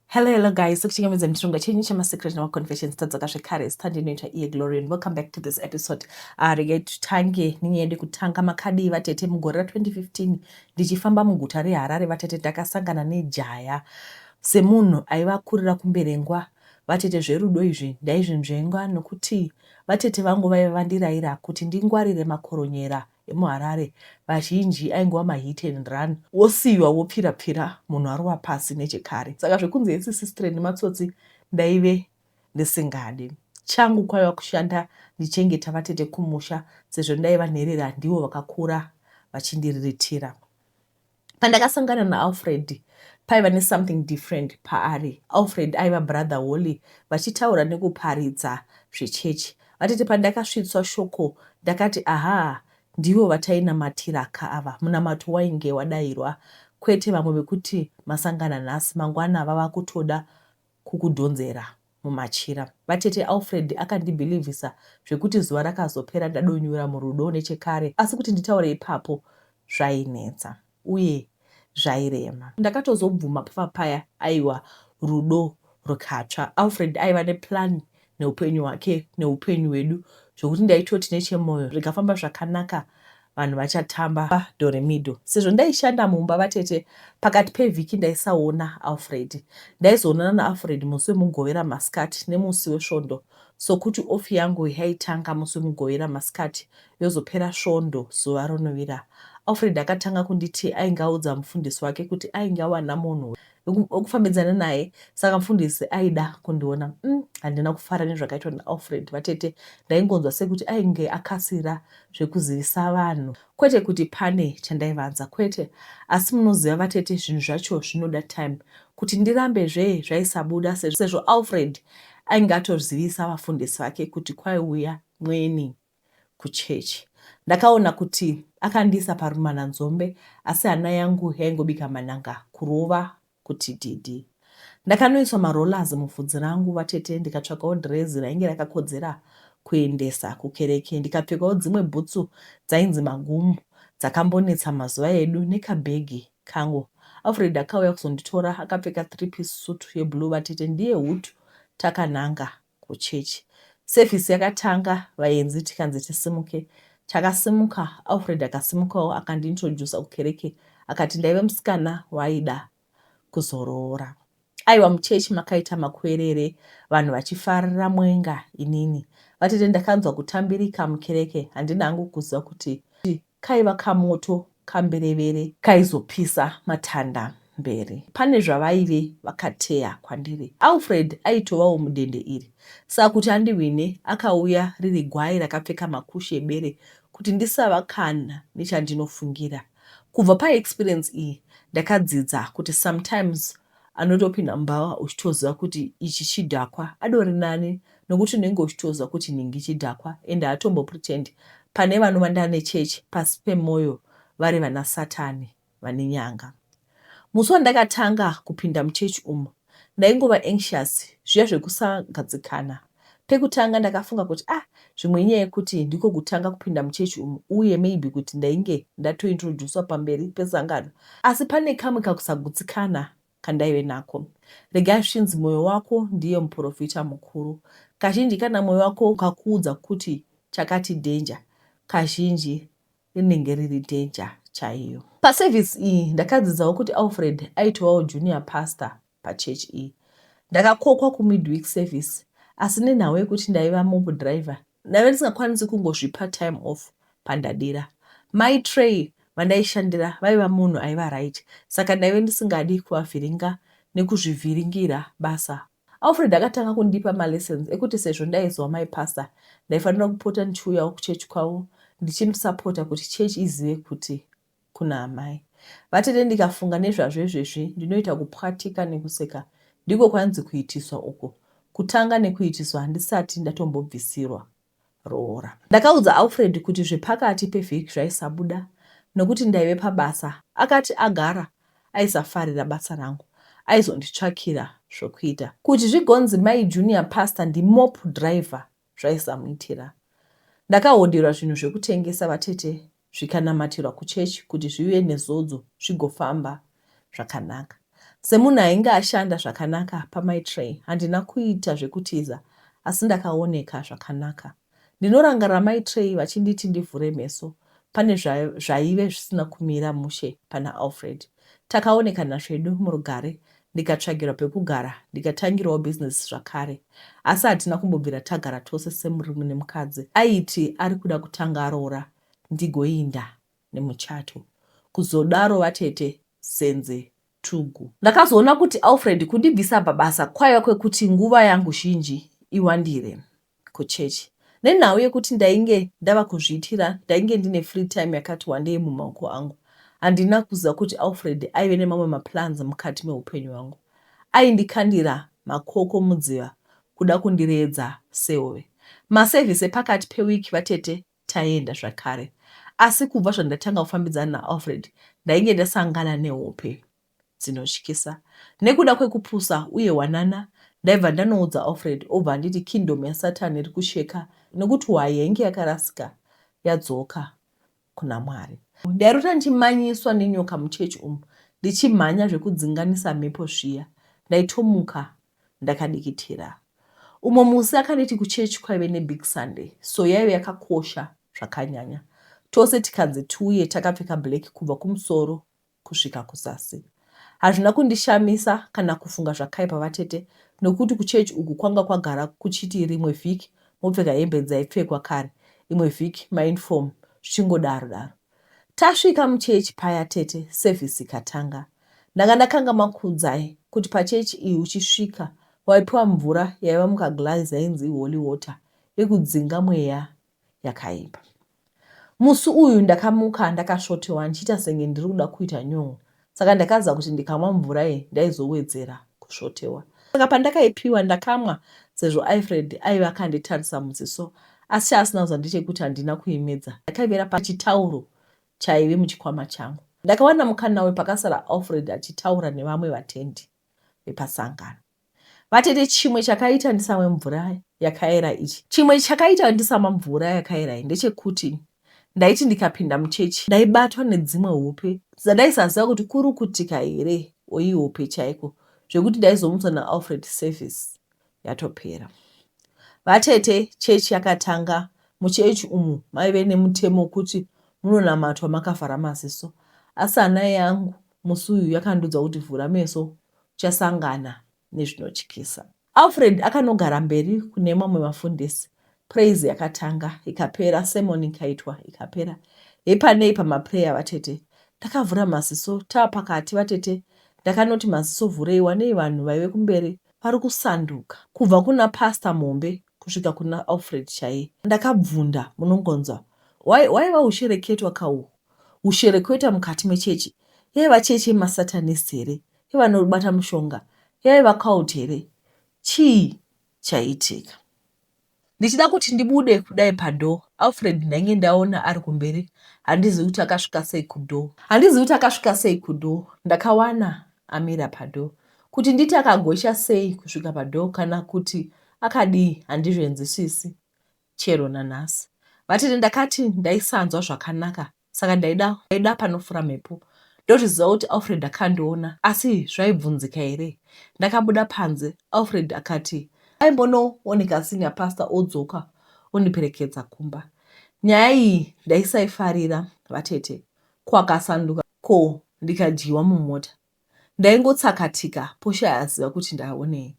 Hello, hello guys. Sokuchingamidza muchirongwa chenyu chemasecret nemaconfessions tadzoka zvekare zita ndinoita iye glory and welcome back to this episode uh, regai titange nenyaya yedu kutanga makadii vatete mugore ra 2015 ndichifamba muguta reharare vatete ndakasangana nejaya semunhu aiva akurira kumberengwa vatete zverudo izvi ndaizvinzvengwa nokuti vatete vangu vaiva vandiraira kuti ndingwarire makoronyera emuHarare vazhinji aingova mahit and run wosiiwa wopfira pfira munhu arova pasi nechekare saka zvekunzi hesisistre nematsotsi ndaive ndisingadi. Changu kwaiva kushanda ndichengeta vatete kumusha sezvo ndaiva nherera ndivo vakakura vachindiriritira. Pandakasangana naAlfred paiva nesomething different paari. Alfred aiva brother Holly vachitaura nekuparidza zvechechi. Vatete pandakasvitswa shoko ndakati aha ndivo vatainamatira ka ava. Munamato wainge wadairwa kwete vamwe vekuti masangana nhasi mangwana vava kutoda kukudhonzera mumachira. Vatete Alfred akandibhilivhisa zvekuti zuva rakazopera ndadonyura murudo nechekare asi kuti nditaure ipapo zvainetsa uye zvairema. Ndakatozobvuma pava paya aiwa rudo rukatsva. Alfred aiva neplan neupenyu hwake neupenyu hwedu zvokuti ndaitoti nechemoyo zvikafamba zvakanaka vanhu vachatamba doremido sezvo ndaishanda mumba vatete pakati pevhiki ndaisaona alfred ndaizoonana naalfred musi wemugovera masikati nemusi wesvondo sokuti ofi yangu yaitanga musi wemugovera masikati yozopera svondo zuva ronovira alfred akatanga kunditi ainge audza mufundisi wake kuti ainge awana munhu okufambidzana naye saka mfundisi aida kundiona mm, handina mm, kufara nezvakaitwa naalfred vatete ndaingonzwa sekuti ainge akasira zvekuzivisa vanhu kwete kuti pane chandaivanza kwete asi munoziva vatete zvinhu zvacho zvinoda time kuti ndirambe zve zvaisabuda sezvo alfred ainge atozivisa vafundisi vake kuti kwaiuya mweni kuchechi. Ndakaona kuti akandiisa parumana nzombe asi hana yangu yaingobika manhanga kurova kuti didi. Ndakanoiswa marollers muvhudzi rangu vatete ndikatsvakawo dhirezi rainge rakakodzera kuendesa kukereke ndikapfekawo dzimwe bhutsu dzainzi magumu dzakambonetsa mazuva edu nekabhegi kangu alfred akauya kuzonditora akapfeka three piece sutu yeblue vatete ndiye hutu takananga kuchechi. Sevhisi yakatanga vaenzi tikanzi tisimuke. Takasimuka, Alfred akasimukawo akandiintroducer kukereke akati ndaive musikana waaida kuzoroora. Aiwa muchechi makaita makuerere vanhu vachifarira mwenga inini. Vatete ndakanzwa kutambirika mukereke handina hangu kuziva kuti Kaiva kamoto kamberevere kaizopisa matanda mberi. Pane zvavaive vakateya kwandiri. Alfred aitovawo mudende iri saka kuti andihwine akauya riri gwai rakapfeka makushe ebere kuti ndisava kana nechandinofungira. Kubva paexperience iyi ndakadzidza kuti sometimes anotopinda mbavha uchitoziva kuti ichi chidhakwa adori nani nokuti unenge uchitoziva kuti nhingi chidhakwa and haatombo pretend pane vanovanda nechurch pasi pemoyo vari vana satani vane nyanga musi wandakatanga kupinda muchurch umu ndaingova anxious zviya zvekusagadzikana Pekutanga ndakafunga kuti ah zvimwe inyaya yekuti ndiko kutanga kupinda muchechi umu uye maybe kuti ndainge ndatointroducwa pamberi pesangano. Asi pane kamwe kakusagutsikana kandaive nako. Regai zvinzi moyo wako ndiye muporofita mukuru. Kazhinji kana moyo wako ukakuudza kuti chakati danger, kazhinji rinenge riri danger chaiyo. Paservice iyi ndakadzidzawo kuti Alfred aitovawo junior pastor pachurch iyi. Ndakakokwa kumidweek service asi nenhau yekuti ndaiva mob driver ndaive ndisingakwanisi kungozvipa time off pandadira. Mai Trey vandaishandira vaiva munhu aiva right saka ndaive ndisingadi kuvavhiringa nekuzvivhiringira basa. Alfred akatanga kundipa malessons ekuti sezvo ndaiziva mai pastor ndaifanira kupota ndichiuyawo kuchurch kwavo ndichimusapota kuti church izive kuti kuna amai vatete ndikafunga nezvazvo izvezvi ndinoita kupwatika nekuseka ndiko kwanzi kuitiswa uko kutanga nekuitiswa handisati ndatombobvisirwa roora ndakaudza alfred kuti zvepakati pevhiki zvaisabuda nokuti ndaive pabasa akati agara aisafarira basa rangu aizonditsvakira zvokuita kuti zvigonzi mai junior pastor ndimop driver zvaisamuitira ndakahoderwa zvinhu zvekutengesa vatete zvikanamatirwa kuchechi kuti zvive nezodzo zvigofamba zvakanaka. Semunhu ainge ashanda zvakanaka pamaitrey handina kuita zvekutiza asi ndakaoneka zvakanaka. Ndinorangarira maitrey vachinditi ndivhure meso pane zvaive zvisina kumira mushe pana Alfred. Takaonekana zvedu murugare ndikatsvagirwa pekugara ndikatangirawo business zvakare asi hatina kumbobvira tagara tose semurume nemukadzi aiti ari kuda kutanga aroora ndigoinda nemuchato kuzodaro vatete Senze Tugu. Ndakazoona kuti Alfred kundibvisa pabasa kwaiva kwekuti nguva yangu zhinji iwandire kuchurch nenhau yekuti ndainge ndava kuzviitira ndainge ndine free time yakati wandei mumaoko angu handina kuziva kuti Alfred aive nemamwe maplans mukati mehupenyu hwangu aindikandira makoko mudziva kuda kundiredza sehove maservice epakati peweek vatete taienda zvakare asi kubva zvandatanga kufambidzana naAlfred ndainge ndasangana nehope dzinotyisa. Nekuda kwekupusa uye hwanana ndaibva ndanoudza Alfred obva anditi kingdom yaSatan iri kusheka nekuti hwayi yainge yakarasika yadzoka kuna Mwari. Ndairota ndichimanyiswa nenyoka muchechi umu ndichimhanya zvekudzinganisa mhepo zviya. Ndaitomuka ndakadikitira. Umwe musi akanditi kuchechi kwaive nebig Sunday so yaive yakakosha zvakanyanya. Tose tikanzi tiuye takapfeka black kubva kumusoro kusvika kuzasi. Hazvina kundishamisa kana kufunga zvakaipa vatete nokuti kuchechi uku kwanga kwagara kuchiti rimwe vhiki mopfeka hembe dzaipfekwa kare, imwe vhiki mauniform zvichingodaro daro. Tasvika muchechi paya tete service ikatanga. Ndanga ndakangamwa Kudzai kuti pachechi iyi uchisvika waipiwa mvura yaiva mukaglass yainzi iholy water yekudzinga mweya yakaipa. Musi uyu ndakamuka ndakasvotewa ndichiita senge ndiri kuda kuita nyon'o saka ndakaziva kuti ndikamwa mvura iyi ndaizowedzera kusvotewa. Saka pandakaipiwa ndakamwa sezvo Alfred aive akanditarisa muziso asi chaasina kuziva ndechekuti handina kuimedza ndakaivera pachitauro chaive muchikwama changu. Ndakawana mukana uyu pakasara Alfred achitaura nevamwe vatendi vepasangano. Vatete chimwe chakaita ndisamwe mvura yakaera ichi. Chimwe chakaita ndisamwa mvura yakaera iyi ndechekuti ndaiti ndikapinda muchechi ndaibatwa nedzimwe hope dzandaisaziva kuti kurukutika here or ihope chaiko zvekuti ndaizomutswa naAlfred service yatopera. Vatete chechi yakatanga muchechi umu maive nemutemo wekuti munonamatwa makavhara maziso asi hana yangu Musi uyu yakandiudza kuti vhura meso uchasangana nezvinotyisa. Alfred akanogara mberi kune mamwe mafundisi. Praise yakatanga ikapera, sermon ikaitwa ikapera. Hepanei pamaprayer vatete. Ndakavhura maziso tava pakati vatete ndakanoti maziso vhurei wanei vanhu vaive kumberi vari kusanduka kubva kuna pastor muhombe kusvika kuna Alfred chaiye. Ndakabvunda munongonzwa waiva ushereketwa kauhu. hushereketwa mukati mechechi yaiva chechi yemasatanist here yevanobata mushonga yaiva cult here chii chaiitika ndichida kuti ndibude kudai padoor alfred ndainge ndaona ari kumberi handizivi kuti akasvika sei kudoor handizivi kuti akasvika sei kudoor ndakawana amira padoor kuti nditi akagocha sei kusvika padoor kana kuti akadii handizvenzisisi chero nanhasi. Vatete ndakati ndaisanzwa zvakanaka saka ndaida ndaida panofura mhepo ndozviziva kuti Alfred akandiona asi zvaibvunzika here. Ndakabuda panze Alfred akati aimbonooneka senior pastor odzoka ondiperekedza kumba. Nyaya iyi ndaisaifarira vatete ko akasanduka ko ndikadyiwa mumota. Ndaingotsakatika Portia aziva kuti ndaonei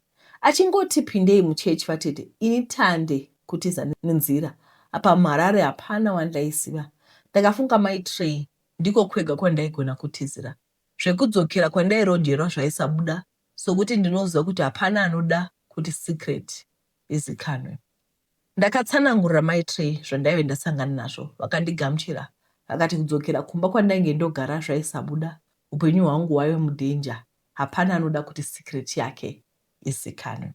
achingoti pindei muchurch vatete ini tande kutiza nenzira apa muHarare hapana wandaiziva ndakafunga mai Trey ndiko kwega kwandaigona kutizira zvekudzokera kwandairojerwa zvaisabuda sokuti ndinoziva kuti hapana anoda kuti secret izikanwe Ndakatsanangurira mai Trey zvandaive ndasangana nazvo vakandigamuchira vakati kudzokera kumba kwandainge ndogara zvaisabuda upenyu hwangu hwaive mudanger hapana anoda kuti secret yake izikanwe.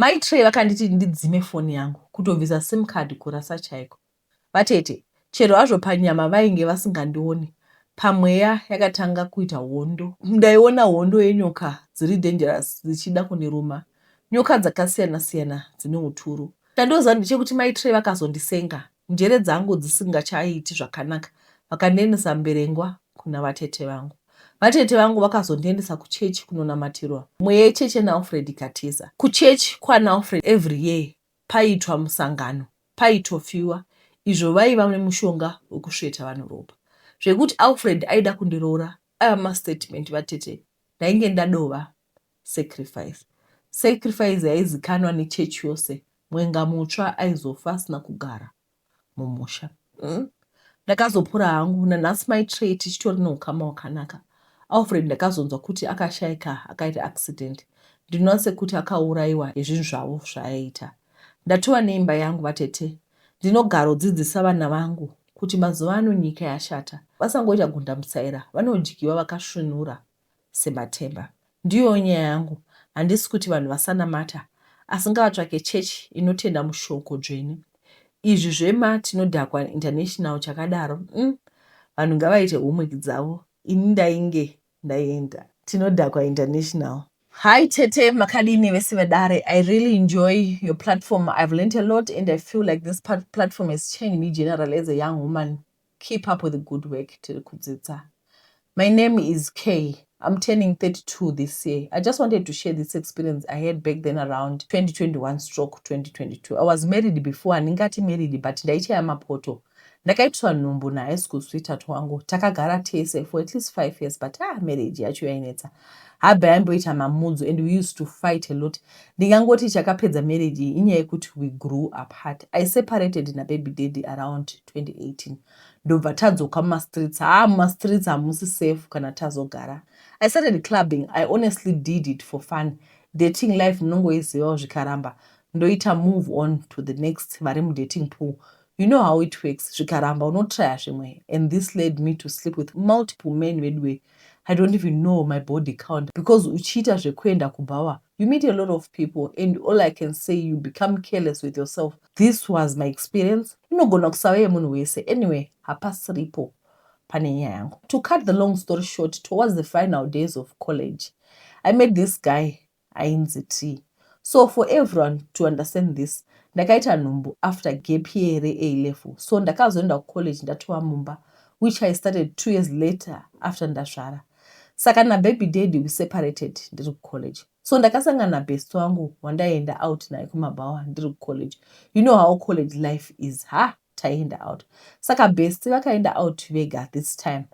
Mai Trey vakanditi ndidzime foni yangu kutobvisa sim card kurasa chaiko Vatete, chero hazvo panyama vainge vasingandione, pamweya yakatanga kuita hondo. Ndaiona hondo yenyoka dziri dangerous dzichida kundiruma. Nyoka dzakasiyana siyana dzine uturu. Chandoziva ndechekuti mai Trey vakazondisenga njere dzangu dzisingachaiti zvakanaka vakandiendesa Mberengwa kuna vatete vangu. Vatete vangu vakazondiendesa kuchechi kunonamatirwa mumwe yecheche naAlfred ikatiza. Kuchechi kwanaAlfred every year paitwa musangano paitofiwa izvo vaiva nemushonga wekusveta vanhu ropa zvekuti Alfred aida kundiroora aiva mastatement vatete ndainge ndadova sacrifice sacrifice yaizikanwa nechurch yose mwenga mutsva aizofa asina kugara mumusha mm. ndakazopura hangu nanhasi mai trey tichitori neukama hwakanaka alfred ndakazonzwa kuti akashaika akaita accident ndinoona sekuti akaurayiwa nezvinhu zvavo zvaaiita ndatova neimba yangu vatete ndinogarodzidzisa vana vangu kuti mazuva ano nyika yashata vasangoita gundamutsaira vanodyiwa vakasvinura sematemba. Ndiyowo nyaya yangu, handisi kuti vanhu vasanamata asi ngavatsvake chechi inotenda mushoko dzvene. Izvi zvema tinodhakwa international chakadaro umm vanhu ngavaite homework dzavo ini ndainge ndaenda tinodhakwa international. Hi tete makadii nevese vedare I really enjoy your platform I've learnt a lot and I feel like this platform has changed me generally as a young woman keep up with the good work tiri kudzidza my name is kay I'm turning 32 this year. I just wanted to share this experience I had back then around 2021 stroke 2022. I was married before, handingati married but ndaichaya mapoto. Ndakaitiswa nhumbu nahigh school sweetheart wangu. Takagara tese for at least five years but ah, marriage yacho yainetsa. Habe aimboita mamudzo and we used to fight a lot. Ndingangoti chakapedza marriage iyi inyaya yekuti we grew apart. I separated nababy daddy around 2018 ndobva tadzoka mumastreets haa mumastreets hamusi safe kana tazogara i started clubbing i honestly did it for fun dating life munongoizivawo zvikaramba ndoita move on to the next vari mudating pool you know how it works zvikaramba unotraya zvimwe and this led me to sleep with multiple men veduwe i don't even know my body count because uchiita zvekuenda kubhawa You meet a lot of people and all I can say you become careless with yourself. This was my experience. Inogona kusava yemunhu wese. Anyway, hapasiripo pane nyaya yangu. To cut the long story short, towards the final days of college, I met this guy ainzi T. So for everyone to understand this, ndakaita nhumbu after gap year A level. So ndakazoenda kucollege ndatova mumba, which I started two years later after ndazvara. saka nababy daddy we separated ndiri kucollege so ndakasangana nabest wangu wandaienda out naye kumabhawa ndiri kucollege you know how college life is ha taienda out saka best vakaenda out vega this time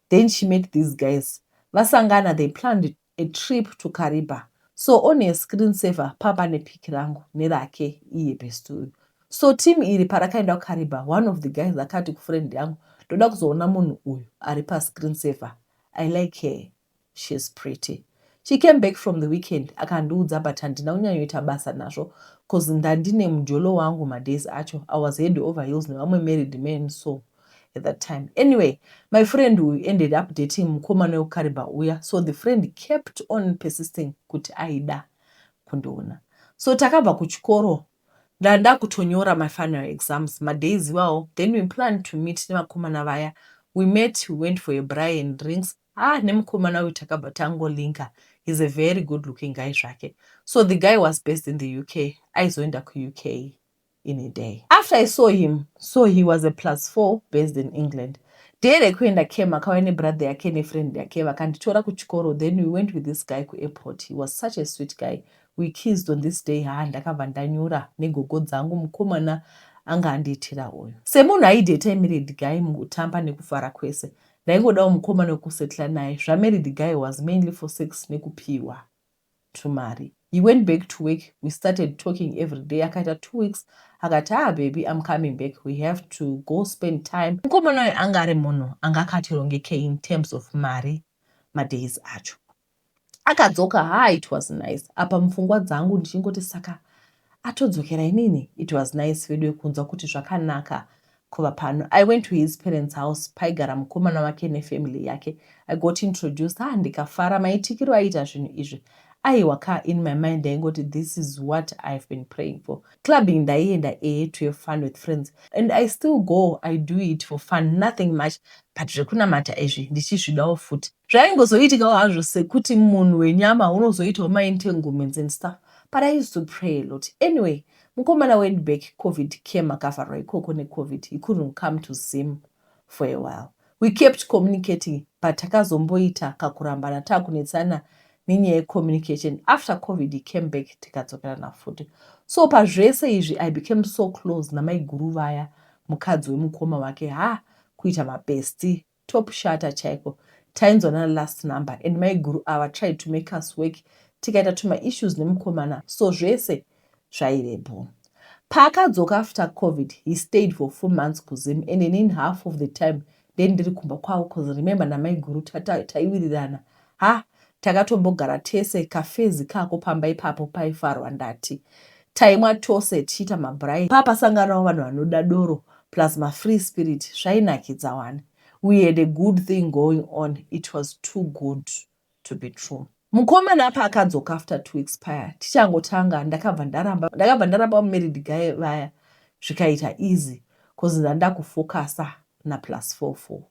then she met these guys vasangana they planned a trip to cariba so on her screen saver papa nepic rangu nerake iye best uyu so team iri parakaenda kukariba one of the guys akati kufriend yangu ndoda kuzoona munhu uyu ari pascreen saver i like her shes pretty she came back from the weekend akandiudza but handina kunyanyoita basa nazvo bcause ndandine mujolo wangu madays acho i was head over hills nevamwe married man so at that time anyway my friend uyu ended up dating mukomana wekukariba uya so the friend kept on persisting kuti aida kundiona so takabva kuchikoro ndandakutonyora my final exams madays iwawo then we planned to meet nevakomana vaya we met we went for a braai and drinks haa nemukomana uyu takabva tango linker he's a very good looking guy zvake so the guy was based in the uk aizoenda kuuk in a day after i saw him so he was a plus four based in england day rekuenda cam akauya nebrother yake nefriend yake vakanditora kuchikoro then we went with this guy kuairport he was such a sweet guy We kissed on this day haa ndakabva ndanyura negogo dzangu mukomana anga andiitira uyu. Semunhu aideta emarried guy mukutamba nekufara kwese ndaingodawo mukomana wekusettler naye zvamarried guy was mainly for sex nekupiwa tumari. He went back to work we started talking every day akaita two weeks akati haa baby I'm coming back we have to go spend time. Mukomana uyu anga ari munhu anga akatirongekei in terms of mari madays acho. akadzoka ha it was nice apa mupfungwa dzangu ndichingoti saka atodzokera inini it was nice vedu wekunzwa kuti zvakanaka kuva pano i went to his parents house paigara mukomana wake nefamily yake i got introduced ha ah, ndikafara maitikiro aiita zvinhu izvi aiwa ka in my mind ndaingoti this is what ihave been praying for Clubbing ndaienda ehe to have fun with friends and I still go I do it for fun nothing much but zvekunamata izvi ndichizvidawo futi. Zvaingozoitikawo hazvo sekuti munhu wenyama unozoitawo maentanglements and stuff but I used to pray a lot. Anyway mukomana went back covid came akavharwa ikoko necovid he couldn't come to Zim. for a while we kept communicating but takazomboita kakurambana takunetsana nenyaya yecommunication after covid he came back tikadzokerana futi so pazvese izvi i became so close namaiguru vaya mukadzi wemukoma wake ha kuita mabesti top shata chaiko tainzwanana last number and maiguru ava tried to make us work tikaita tumaissues nemukomana so zvese zvaivepo. Paakadzoka after covid he stayed for four months kuZim and inin half of the time ndendiri kumba kwavo cause remember namaiguru taiwirirana ha takatombogara tese kafezi kako pamba ipapo paifarwa ndati taimwa tose tichiita mabrai papasanganawo vanhu vanoda doro plus mafree spirit zvainakidza wani we had a good thing going on it was too good to be true. Mukomana apa akadzoka after two weeks paya tichangotanga ndakabva ndaramba ndakabva ndaramba married guy vaya zvikaita easy cause ndandakufocusa naplus four four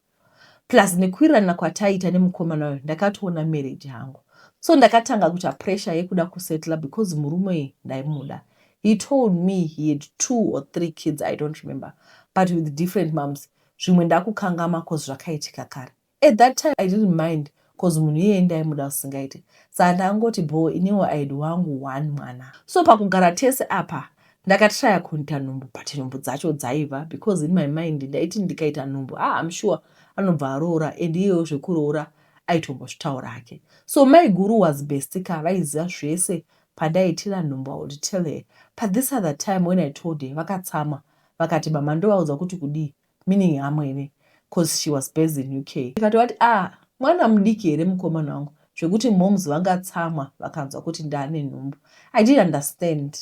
plus nekuwirirana kwataita nemukomana uyo ndakatoona marriage hangu so ndakatanga kuita pressure yekuda kusettla because murume uyu ndaimuda he told me he had two or three kids i don't remember but with different moms zvimwe ndakukangama cause zvakaitika kare At that time I didn't mind coz munhu iyeye ndaimuda zvisingaite saa ndakangoti bhoo iniwo aid wangu one mwana. So pakugara tese apa ndakatryer kuita nhumbu but nhumbu dzacho dzaiva because in my mind ndaiti ndikaita nhumbu haa I'm sure anobva aroora and iyewo zvekuroora aitombozvitaura hake. So maiguru was besty ka vaiziva zvese pandaitira nhumbu I would tell her but this other time when I told her vakatsamwa vakati mama ndovaudza kuti kudii meaning hamwene cause she was based in uk ndikati wati ah mwana mudiki here mukomana wangu zvekuti moms vangatsamwa vakanzwa kuti ndaane nhumbu i did understand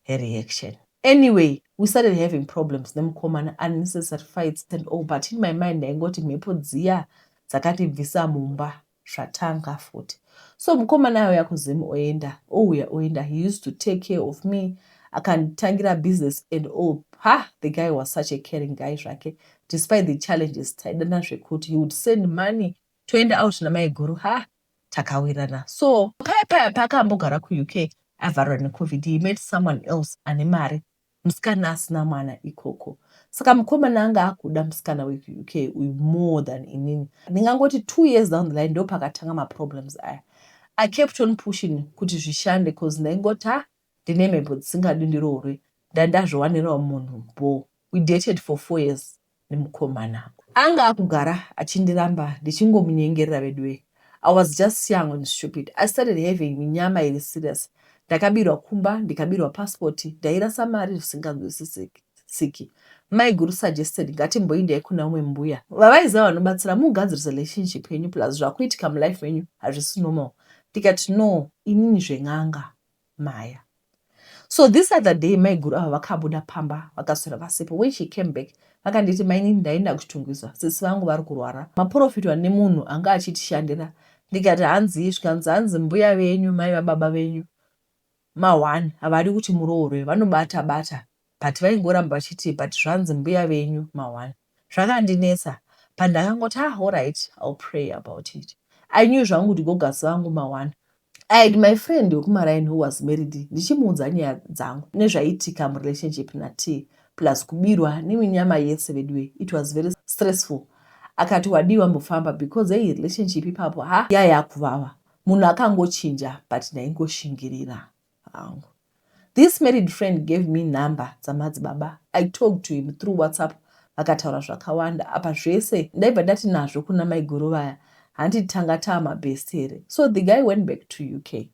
her reaction anyway we started having problems nemukomana unnecessary fights and all but in my mind ndaingoti mhepo dziya dzakatibvisa mumba zvatanga futi so mukomana auya kuzim oenda ouya oenda he used to take care of me akanditangira business and all ha the guy was such a caring guy zvake despite the challenges taidana zvekuti he would send money toenda out namaiguru ha takawirana so paya paya paakambogara kuuk avharwa necovid he met someone else ane mari Musikana asina mwana ikoko. Saka mukomana anga akuda musikana wekuUK uyu more than inini. Ndingangoti two years down the line ndopakatanga maproblems aya. I kept on pushing kuti zvishande coz ndaingoti ah ndine mhepo dzisingadi ndiroorwe ndandazviwanirawo munhu bhoo. We dated for four years nemukomana. Anga akugara achindiramba ndichingomunyengerera veduwee I was just young and stupid I started having minyama iri serious ndakabirwa kumba ndikabirwa passport ndairasa mari zvisinganzwisisiki maiguru suggested ngatimboindai kuna umwe mbuya vavaiziva vanobatsira mugadzirise relationship yenyu plus zvakuitika mulife menyu hazvisi normal ndikati no inini zven'anga Maya. So this other day maiguru ava vakabuda pamba vakaswera vasipo. When she came back vakanditi mainini ndaenda kuchitungwiza sisi vangu vari kurwara. Maporofitwa nemunhu anga achitishandira ndikati hanzii zvikanzi hanzi mbuya venyu mai vababa venyu ma one havadi kuti muroorwe vanobata bata but vaingoramba vachiti but zvanzi mbuya venyu ma one zvakandinetsa but ndakangoti ah horyt I'll pray about it I knew zvangu kuti gogas vangu ma one I had my friend wekumaraini who was married ndichimuudza nyaya dzangu nezvaiitika murelationship na T plus kubirwa neminyama yese veduwe it was very stressful akati wadii wambofamba because hey relationship ipapo ha yaya kuvava munhu akangochinja but ndaingoshingirira hangu. This married friend gave me number dzamadzibaba I talked to him through whatsapp vakataura zvakawanda apa zvese ndaibva ndati nazvo kuna maiguru vaya hanti tanga taamabest here so the guy went back to uk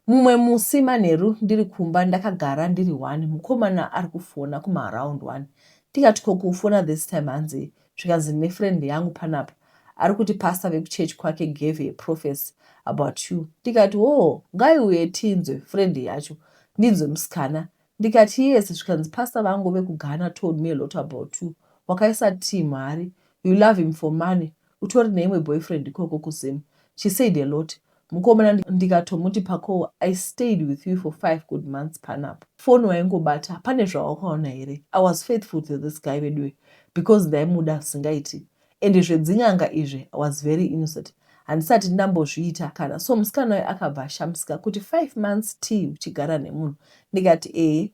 mumwe musi manheru ndiri kumba ndakagara ndiri one mukomana ari kufona kumaaround one ndikati ko kufona this time hanzi zvikanzi ndine friend yangu panapa arikuti pastor vekuchurch kwake gave a prophecy about you ndikati hoo ngaiuye tinzwe friend yacho ndinzwe musikana ndikati yes zvikanzi pastor vangu vekugana told me a lot about you wakaisa tii mhari you love him for money utori neimwe boyfriend ikoko kuzim she said a lot Mukomana ndikatomuti Pakowo I stayed with you for five good months panapa. Phone waingobata pane zvawakaona here? I was faithful to this guy veduwe because ndaimuda zvisingaiti and zvedzin'anga izvi I was very innocent handisati ndambozviita kana so musikana uyu akabva ashamisika kuti five months tii uchigara nemunhu ndikati ehe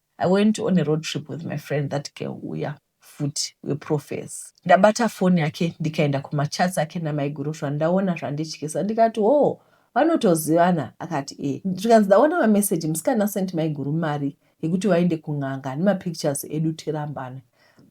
I went on a road trip with my friend that girl uya futi weprofes. Ndabata foni yake ndikaenda kumachats ake namaiguru zvandaona zvandityisa ndikati hoo vanotozivana akati e zvikanzi ndaona mameseji musikana sent maiguru mari yekuti vaende kun'anga nemapictures edu tirambane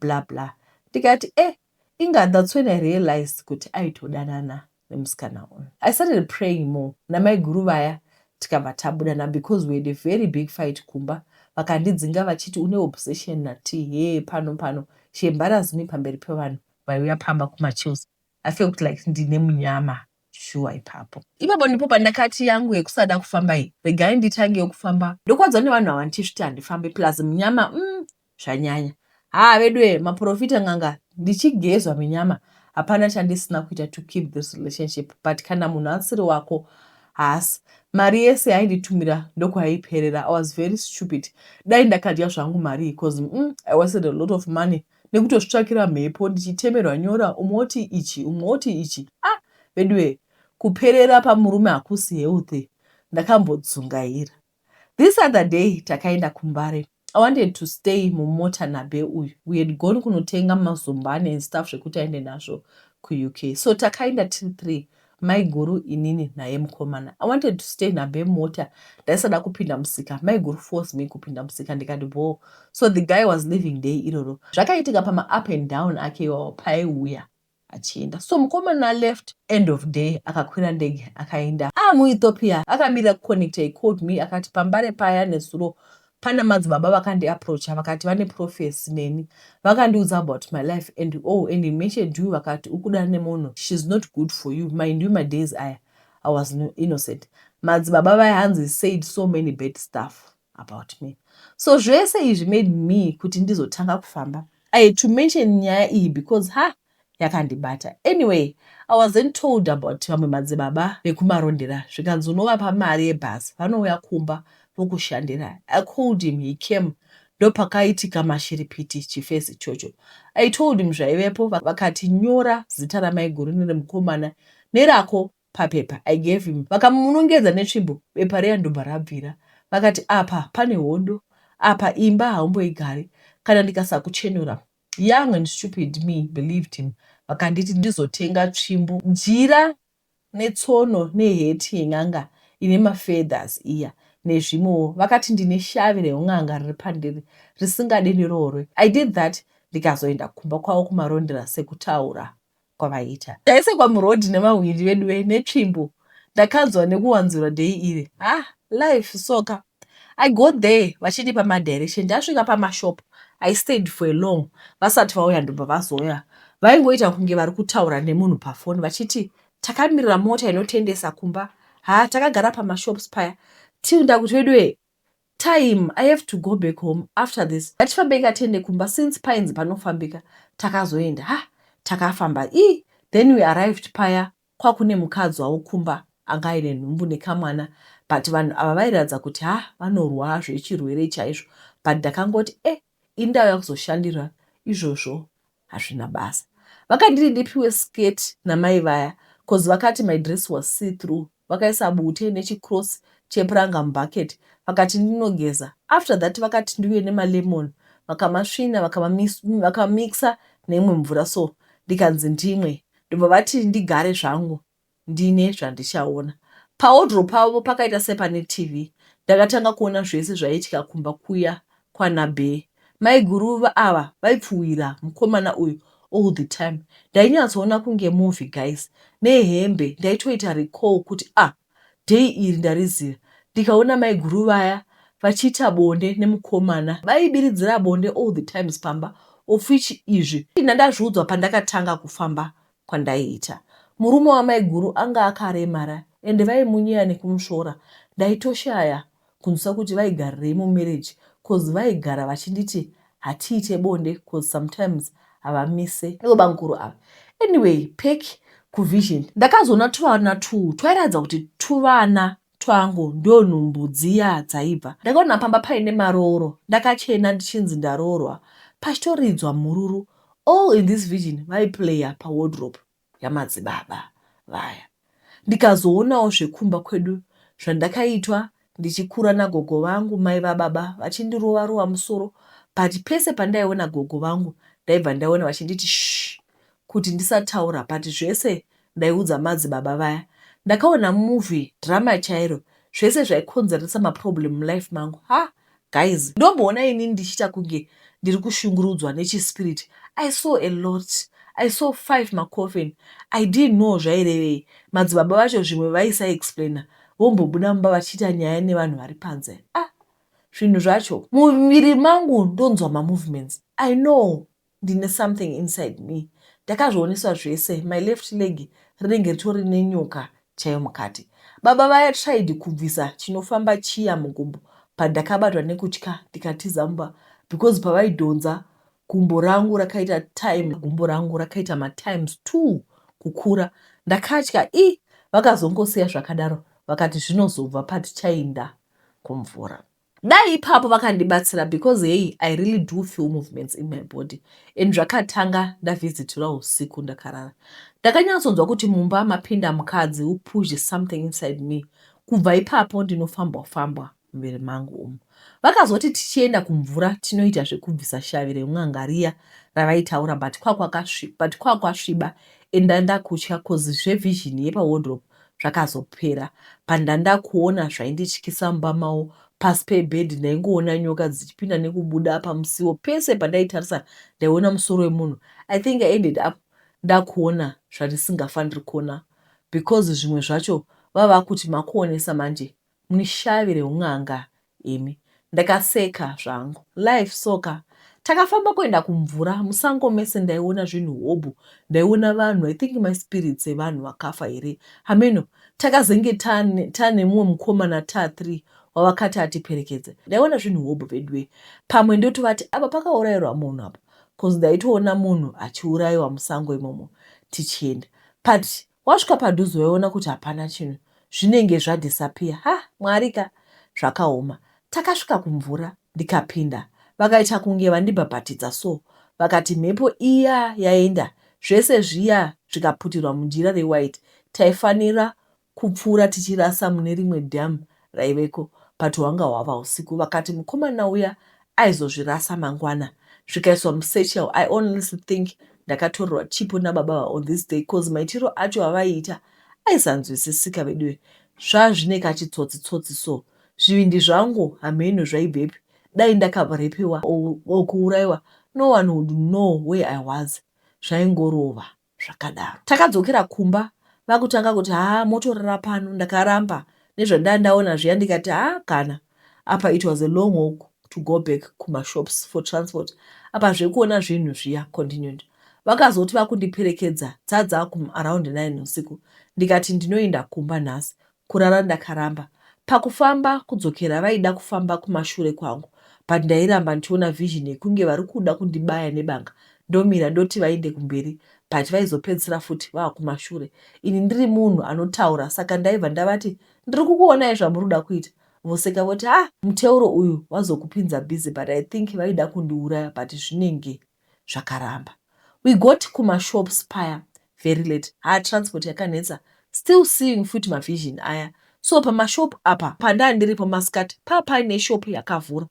bla bla ndikati e eh, inga that's when i realized kuti aitodanana nemusikana uyu. I started praying more namaiguru vaya tikabva tabuda na because we had a very big fight kumba vakandidzinga vachiti une obsession na Tee hee pano pano she embarrassed me pamberi pevanhu vaiuya pamba kuma chills I felt like ndine munyama shuwa ipapo. Ipapo ndipo pandakati yangu yekusada kufamba iyi regai nditangewo kufamba ndokwadzwa nevanhu ava ndichisviti handifambe plus munyama umm zvanyanya haa veduwee maporofita n'anga ndichigezwa minyama hapana chandisina kuita to keep this relationship but kana munhu asiri wako haasi mari yese yainditumira ndokwaiperera i was very stupid dai ndakadya zvangu marii cause mm, i wasted a lot of money nekutozvitsvakira mhepo ndichitemerwa nyora umwe oti ichi umwe oti ichi a ah, veduwee kuperera pamurume hakusi healthy ndakambodzungaira This other day takaenda kuMbare I wanted to stay mumota naBe uyu. We had gone kunotenga mazumbani and stuff zvekuti aende nazvo kuUK. So takaenda tiri three maiguru inini naye mukomana. I wanted to stay naBe mumota ndaisada kupinda musika. Maiguru force me kupinda musika ndikati bhoo. So the guy was leaving day iroro. Zvakaitika pama up and down ake iwawo paiuya. achienda so mukomana left end of day akakwira ndege akaenda ava muEthiopia akamirira kuconnecta he called me akati pambare paya nezuro pana madzibaba vakandiaproacha vakati vane prophecy neni vakandiudza about my life and oh and he mentioned you vakati ukuda nemunhu she's not good for you mind you madays aya i was innocent madzibaba vaya hanzi said so many bad stuff about me so zvese izvi made me kuti ndizotanga kufamba i had to mention nyaya iyi because ha yakandibata anyway i was then told about vamwe madzibaba vekumarondera zvikanzi unovapa mari yebhazi vanouya kumba vokushandira i called him he came ndopakaitika mashiripiti chifesi ichocho i told him zvaivepo vakati nyora zita ramaiguru neremukomana nerako papepa I gave him vakamunongedza netsvimbo bepa riya ndobva rabvira vakati apa pane hondo apa imba haumboigari kana ndikasakuchenura young and stupid me believed him vakanditi ndizotenga tsvimbo jira netsono neheti yen'anga ine mafeathers iya nezvimwewo vakati ndine shavi reun'anga riri pandiri risingade ndiroorwe I did that ndikazoenda kumba kwavo kumarondera sekutaura kwavaiita. Taisekwa muroad nemahwindi veduwe netsvimbo ndakanzwa nekuwanzura day iri ah life soka I go there vachindipa madirection ndasvika pamashop I stayed for a long vasati vauya ndobva vazoya vaingoita kunge vari kutaura nemunhu pafoni vachiti takamirira mota inotendesa kumba ha takagara pamashops paya till ndakuti veduwe Taim I have to go back home after this ngatifambei ka tiende kumba since painzi panofambika takazoenda ha takafamba ii then we arrived paya kwakune mukadzi wavo kumba anga aine nhumbu nekamwana but vanhu ava vairatidza kuti ha vanorwaa zvechirwere chaizvo but ndakangoti eh indauya kuzoshandira izvozvo hazvina basa vakanditi ndipiwe skirt namai vaya coz vakati my dress was see through vakaisa bute nechicross chepuranga mubucket vakati ndinogeza after that vakati ndiuye nemalemon vakamasvina vakamamitsa neimwe mvura so ndikanzi ndimwe ndobva vati ndigare zvangu Ndine zvandichaona. Pawodhuro pavo pakaita sepane TV. Ndakatanga kuona zvese zvaiitika kumba kuya kwana Bee. Maiguru ava vaipfuhwira mukomana uyu all the time. Ndainyatsoona kunge movie guys. Nehembe ndaitoita recall kuti ah day iri ndariziva ndikaona maiguru vaya vachiita bonde nemukomana. Vaibiridzira bonde all the times pamba of which izvi ndandazviudzwa pandakatanga kufamba kwandaiita. Murume wamaiguru anga akaremara ende vaimunyeya nekumusvora ndaitoshaya kunzwisisa kuti vaigarirei mumarriage coz vaigara vachinditi hatiite bonde coz sometimes havamise ivo bamkuru ava. Anyway pack kuvision ndakazoona tuvana two twairatidza kuti tuvana twangu ndonhumbu dziya dzaibva. Ndakaona pamba paine marooro ndakachena ndichinzi ndaroorwa pachitoridzwa mhururu all in this virgin vaiplayer pa wardrobe yamadzibaba vaya ndikazoonawo zvekumba kwedu zvandakaitwa ndichikura nagogo vangu mai vababa vachindirova rova musoro but pese pandaiona gogo vangu ndaibva ndaiona vachinditi shh kuti ndisataura but zvese ndaiudza madzibaba vaya. Ndakaona movie drama chairo zvese zvaikonzeresa maproblem mulife mangu haa guys ndomboona ini ndichiita kunge ndiri kushungurudzwa nechispirit I saw a lot I saw five macoffin I didn't know zvairevei madzibaba vacho zvimwe vaisaexplainer vombobuda mumba vachiita nyaya nevanhu vari panze ah zvinhu zvacho mumuviri mangu ndonzwa mamovements I know Ndine something inside me ndakazvioneswa zvese my left leg rinenge ritori nenyoka chaiyo mukati. Baba vaya tried kubvisa chinofamba chiya mugumbo but ndakabatwa nekutya ndikatiza mumba because pavaidhonza gumbo rangu rakaita time gumbo rangu rakaita matimes two kukura ndakatya i vakazongosiya zvakadaro vakati zvinozobva patichainda kumvura. dai ipapo vakandibatsira because hey i really do feel movements in my body and zvakatanga ndavhizitiwa usiku ndakarara ndakanyatsonzwa kuti mumba mapinda mukadzi who pushed something inside me kubva ipapo ndinofambwa fambwa muviri mangu umu vakazoti tichienda kumvura tinoita zvekubvisa shavi remwanga riya ravaitaura but kwakwasviba and ndandakutya cause zvevision yepawardrobe zvakazopera pandanda kuona zvaindityisa mumba mavo pasi pebed ndaingoona nyoka dzichipinda nekubuda apa musiwo pese pandaitarisa ndaiona musoro wemunhu i think i ended up ndakuona zvandisingafaniri kuona because zvimwe zvacho vava kuti makuonesa manje Muri shavi reun'anga imi. Ndakaseka zvangu. Life so ka. Takafamba kuenda kumvura. Musango mese ndaiona zvinhu hobho. Ndaiona vanhu. I think ma spirits evanhu vakafa here. Hameno. Takazenge tane mumwe mukomana ta three wavakati atiperekedze. Ndaiona zvinhu hobho veduwe. Pamwe ndotovati apa pakaurairwa munhu apa. Cause ndaitoona munhu achiuraiwa musango imomo tichienda. But Wasvika padhuze waiona kuti hapana chinhu zvinenge zva disappear haa Mwari ka zvakaoma. Takasvika kumvura ndikapinda vakaita kunge vandibhabhatidza so vakati mhepo iya yaenda zvese zviya zvikaputirwa mujira re white taifanira kupfuura tichirasa mune rimwe dam raiveko but hwanga hwava husiku vakati mukomana uya aizozvirasa mangwana zvikaiswa musatchel i honestly think ndakatorerwa chipo nababa ava on this day cause maitiro acho avaiita aisanzwisisika veduwe zvazvine kachitsotsi tsotsi so zvivindi zvangu hameno zvaibvepi dai ndakarepiwa or kuuraiwa no one would know where i was zvaingorova zvakadaro. Takadzokera kumba vakutanga kuti haa motorara pano ndakaramba nezvandanga ndaona zviya ndikati haa kana apa it was a long walk to go back kumashops for transport apa zvekuona zvinhu zviya continued vakazoti vakundiperekedza dzadza kum around 9 usiku ndikati ndinoenda kumba nhasi kurara ndakaramba. Pakufamba kudzokera vaida kufamba kumashure kwangu but ndairamba ndichiona vision yekunge varikuda kundibaya nebanga ndomira ndoti vainde kumberi but vaizopedzisira futi vakumashure ini ndiri munhu anotaura saka ndaiva ndavati ndiri kukuonai zvamuri kuda kuita voseka voti ah muteuro uyu wazokupinza busy but I think vaida kundiuraya but zvinenge zvakaramba we got kuma shops paya very late haa transport yakanetsa still seeing futi ma vision aya so pama shop apa pandandiripo maskati paa paine shop yakavhura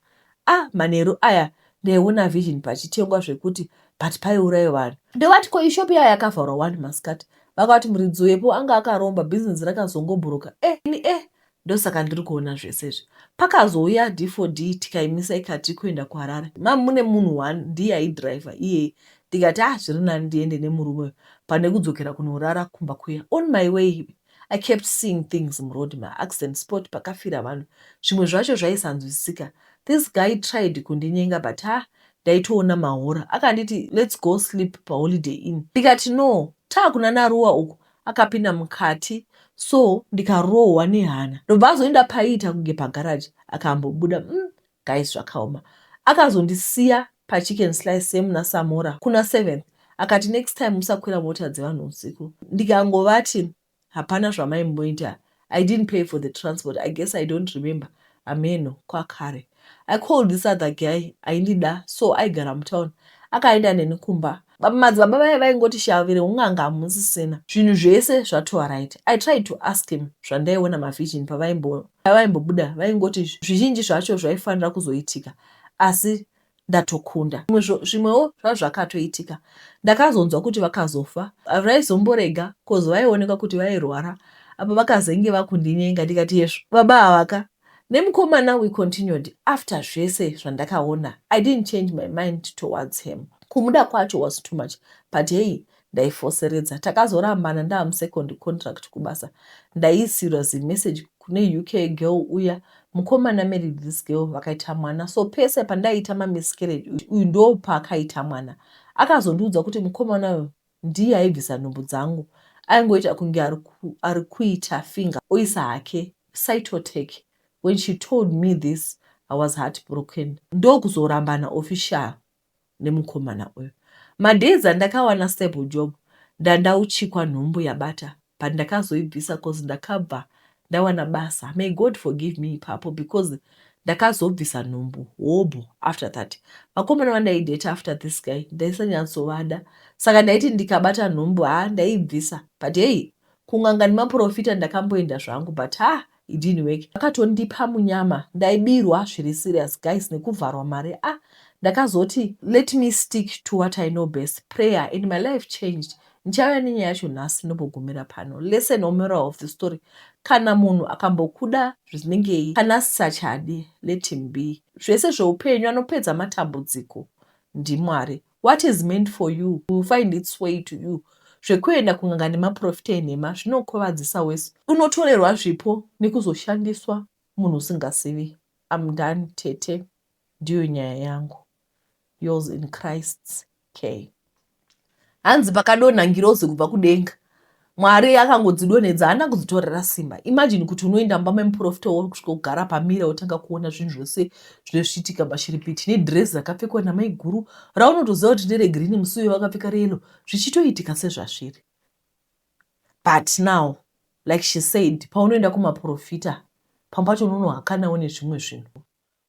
ah manheru aya ndaiona vision pachitengwa zvekuti but paiurayo vanhu ndovati ko ishop yaya yakavharwa wani maskati vakati muridzi wepo anga akaromba business rakazongobhuruka eh ini eh Ndosaka ndiri kuona zvese izvi. Pakazouya D4D tikaimisa ikati kuenda kuHarare. Ma'am mune munhu one ndiye aidriver iyeye ndikati ah zviri nani ndiende nemurume uyu pane kudzokera kunorara kumba kuya. On my way I kept seeing things muroad ma accident spot pakafira vanhu zvimwe zvacho zvaisanzwisisika. This guy tried kundinyenga but haa ndaitoona mahora. Akanditi let's go sleep paholiday inn ndikati no taa kunana Ruwa uku akapinda mukati so ndikarohwa nehana ndobva azoenda paiita kunge pagaraji akambobuda mm, guys zvakaoma akazondisiya pachicken slice same nasamora kuna 7 akati next time musakwira mota dzevanhu usiku ndikangovati hapana zvamaimboita I didn't pay for the transport I guess I don't remember hameno kwakare I called this other guy aindida so aigara mutown akaenda neni kumba madzibaba vaye vaingoti shavire un'anga hamusisina zvinhu zvese zvatova right i tried to ask him zvandaiona mavision pavaimbobuda vaingoti zvizhinji zvacho zvaifanira kuzoitika asi ndatokunda zvimwe zvo zvimwewo zvazvakatoitika ndakazonzwa kuti vakazofa vaizomborega coz vaioneka kuti vairwara apa vakazenge vakundinyenga ndikati hezvo baba avaka nemukomana we continued after zvese zvandakaona i didn't change my mind towards him kumuda kwacho was too much but heyi ndaifoseredza takazorambana ndaamusecond contract kubasa ndaiisirwa zimessage kune uk girl uya mukomana married this girl vakaita mwana so pese pandaiita mamiscarriage uyu ndo paakaita mwana akazondiudza kuti mukomana uyu ndiye aibvisa nhumbu dzangu aingoita kunge ari kuita finga oisa hake cytotec when she told me this i was heartbroken ndokuzorambana official nemukomana uyu. Madays andakawana stable job ndandauchikwa nhumbu yabata but ndakazoibvisa cause ndakabva ndawana basa. May God forgive me ipapo because ndakazobvisa nhumbu hobho after that. Vakomana vandaidate after this guy ndaisanyatsovada saka ndaiti ndikabata nhumbu ha ndaibvisa but hey kunganga nemaprofita ndakamboenda zvangu but ha It didn't work. Vakatondipa munyama. Ndaibirwa zviri serious guys nekuvharwa mari ah ndakazoti let me stick to what I know best prayer and my life changed. Ndichauya nenyaya yacho nhasi ndobogumira pano. Lesson or moral of the story kana munhu akambokuda zvisinengei kana asisachadi let him be. Zvese zveupenyu anopedza matambudziko ndiMwari. What is meant for you will find its way to you. Zvekuenda kun'anga nemaporofita enhema zvinokuvadzisa wese. Unotorerwa zvipo nekuzoshandiswa munhu usingazivi. I'm done tete. Ndiyo nyaya yangu. Yours in Christ's care. Hanzi pakadonha ngirozi kubva kudenga. Mwari akangodzidonhedza haana kudzitorera simba. Imagine kuti unoenda mumba memuprofita wauri kusvika kugara pamira wotanga kuona zvinhu zvese zvesvitika mashiripiti nedhirezi rakapfekwa namaiguru raunotoziva kuti nderegirini musi uyo vakapfeka reyelo zvichitoitika sezvazviri. But now like she said paunoenda kumaprofita pamwe pacho unonohakanawo nezvimwe zvinhu.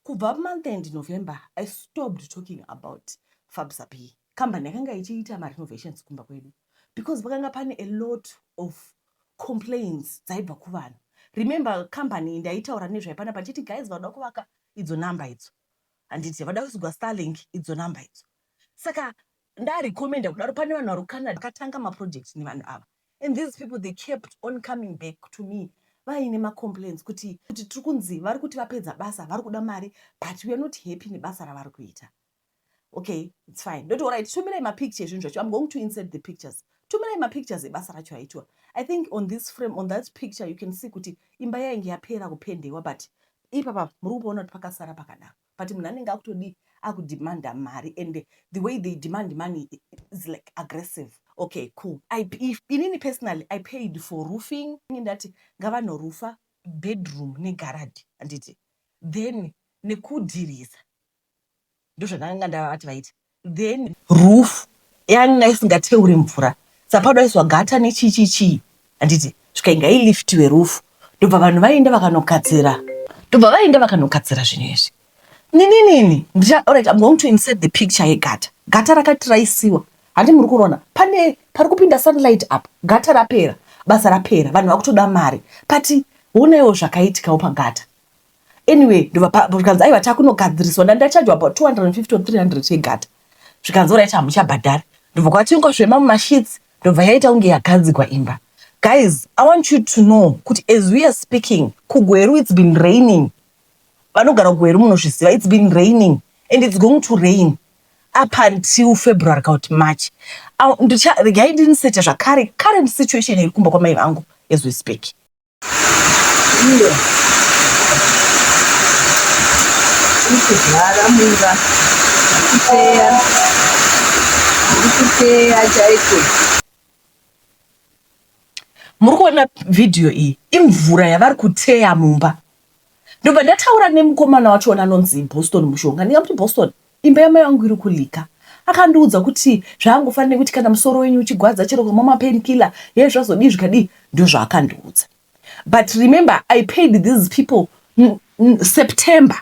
Kubva month end November I stopped talking about FabSap iyi. Company yakanga ichiita marenovations kumba kwedu because pakanga pane a lot of complaints dzaibva kuvanhu. Remember company ndaitaura nezvayo panapa ndichiti guys vanoda kuvaka idzo number idzo handiti vada kuzoigwa Starlink idzo number idzo. Saka Nda recommender kudaro pane vanhu vari kuCanada vakatanga maprojects nevanhu ava and these people they kept on coming back to me vaine macomplaints kuti kuti tiri kunzi vari kuti vapedza basa vari kuda mari but weare not happy nebasa ravari kuita. Okay, it's fine. Ndoti alright, tumirai mapicture ezvinhu zvacho. I'm going to insert the pictures. Tumirai mapictures ebasa racho aitwa. I think on this frame, on that picture, you can see kuti imba yainge yapera kupendewa but ipapa muri kupaona kuti pakasara pakadaro. But munhu anenge akutodii akudemander mari and the way they demand money is like aggressive. Okay cool I, if, inini personally I paid for roofing ini ndati ngavanorufa bedroom negaradhi handiti then nekudhirisa ndozvandakanga ndavati vaiti then roof yanga isingateuri mvura sapadoiswa gata nechii chii chii handiti zvikainga iliftiwe roof ndobva vanhu vaenda vakanogadzira ndobva vaenda vakanogadzira zvinhu izvi nininini ndicha alright i'm going to insert the picture yegata gata rakati raisiwa handi muri kurona pane pari kupinda sunlight apa gata rapera basa rapera vanhu vakutoda mari but honaiwo zvakaitikawo pagata anyway ndovapazvikanzi aiwa takunogadziriswa ndandachajwa about 250 or 300 yegata zvikanzi orit hamuchabhadhari ndobva kwatingosvema mumashits ndobva yaita kunge yagadzigwa imba guys i want you to know kuti as we are speaking kugweru its been raining vanogara kugweru munozviziva its been raining and its going to rain up until february kana kuti march ndicharegai ndinisete zvakare current situation iri kumba kwamai vangu as we speak iyo iri kuzara mumba ikuteya iri kuteya chaiko muri kuona vhidhiyo iyi imvura yavari kuteya mumba ndobva ndataura nemukomana wacho anonzi boston mushonga ndingamuti boston Imba yamai vangu iri kuLika. Akandiudza kuti zvaangofanira nekuti kana musoro wenyu uchigwadza chero ukamwa mapainkiller hee zvazodii zvikadii ndozvaakandiudza but remember I paid these people September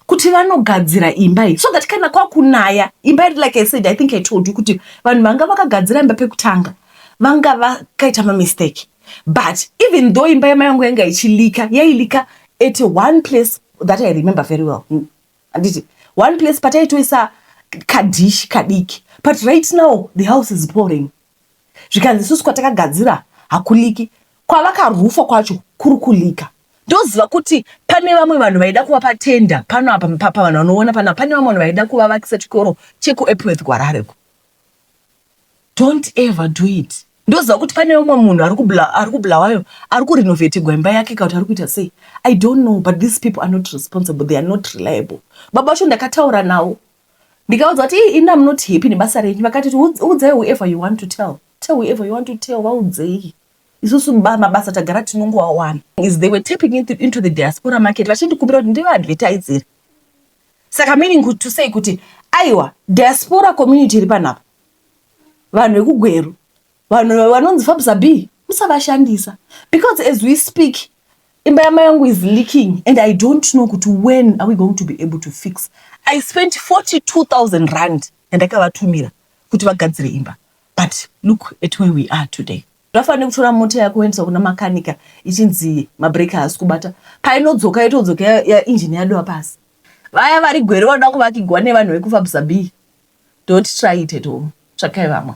kuti vanogadzira imba iyi so that kana kwakunaya imba iri like I said I think I told you kuti vanhu vanga vakagadzira imba pekutanga vanga vakaita mamistake but even though imba yamai vangu yanga ichilika yailika at one place that I remember very well handiti one place pataitoisa kadishi kadiki but right now the house is pouring zvikanzi isusu kwatakagadzira hakuliki kwavakarufa kwacho kuri kulika ndoziva kuti pane vamwe vanhu vaida kuva patenda pano apa papa vanhu vanoona pano pane vamwe vanhu vaida kuvavakisa chikoro chekuepworth kwarareko Don't ever do it. Ndoziva kuti pane umwe munhu ari kubla ari kuBulawayo ari kurinovetigwa imba yake kana kuti ari kuita sei I don't know but these people are not responsible they are not reliable. Baba vacho ndakataura navo ndikaudza kuti ii ini am not happy nebasa renyu vakati kuti "Udz- udzai whoever you want to tell tell whoever you want to tell vaudzei isusu ba- mabasa tagara tinongoawana is they were tapping into, into the diaspora market vachindikumbira kuti ndivaadvertisere Saka meaning kuti to say kuti aiwa diaspora community iri pano apa vanhu vekugweru vanhu vanonzi fabsa b musavashandisa because as we speak imba yamai yangu is leaking and i don't know kuti when are we going to be able to fix i spent 42000 rand yandakavatumira kuti vagadzire imba but look at where we are today Zvafanana nekutora mota yako woendesa kuna makanika ichinzi mabreak haasi kubata, painodzoka yotodzoka ya, ya engine yadova pasi. Vaya vari gwere vanoda kuvakigwa nevanhu vekufabsa bee don't try it at home, tsvakai vamwe.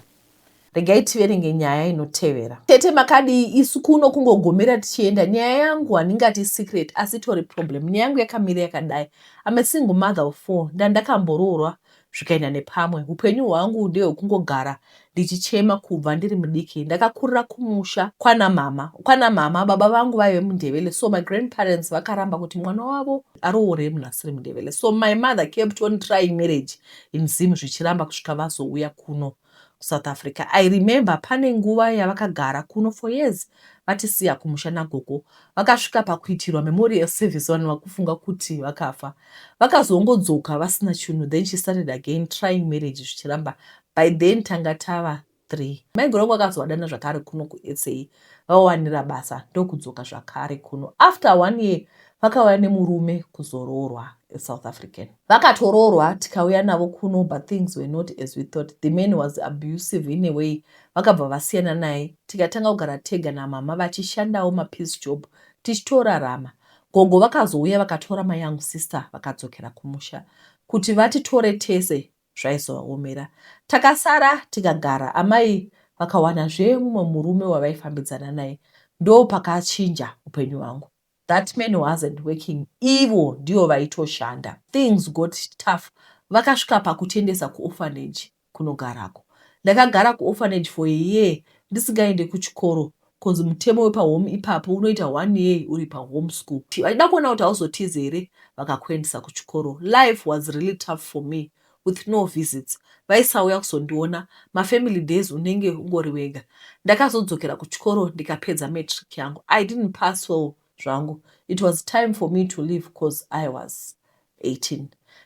Regai tiverenge nyaya inotevera. Tete makadii isu kuno kungogomera tichienda. Nyaya yangu handingati secret asi itori problem. Nyaya yangu yakamira yakadai. I'm a single mother of four ndandakambororwa zvikaenda nepamwe. Hupenyu hwangu ndehwekungogara ndichichema kubva ndiri mudiki. Ndakakurira kumusha kwana mama. Kwana mama baba vangu vaive mundevele so my grandparents vakaramba kuti mwana wavo aroore munhu asiri mundevele so my mother kept on trying marriage in Zim zvichiramba kusvika vazouya kuno. kuSouth Africa. I remember pane nguva yavakagara kuno for years vatisiya kumusha nagogo. Vakasvika pakuitirwa memorial service vanhu vakufunga kuti vakafa. Vakazongodzoka vasina chunhu then she started again trying marriage zvichiramba. By then tanga tava three. Maiguru vangu vakazovadana zvakare kuno kuSA vawanira basa ndokudzoka zvakare kuno. After one year vakauya nemurume kuzoroorwa a South African. Vakatoroorwa tikauya navo kuno but things were not as we thought. The man was abusive in a way vakabva vasiyana naye tikatanga kugara tega namama vachishandawo mapiece job tichitorarama. Gogo vakazouya vakatora mayoung sister vakadzokera kumusha kuti vatitore tese zvaizovaomera. Takasara tikagara amai vakawanazve mumwe murume wavaifambidzana naye ndopakachinja upenyu hwangu. That man wasn't working ivo ndivo vaitoshanda. Things got tough vakasvika pakutendesa kuorphanage kunogarako. Ndakagara kuorphanage for a year ndisingaende kuchikoro coz mutemo wepahome ipapo unoita one year uri pahome school. Vachida kuona kuti hauzotize here vakakuendesa kuchikoro. Life was really tough for me with no visits vaisauya kuzondiona mafamily days unenge ungori wega ndakazodzokera kuchikoro ndikapedza matric yangu i didn't pass well zvangu it was time for me to leave cause i was 18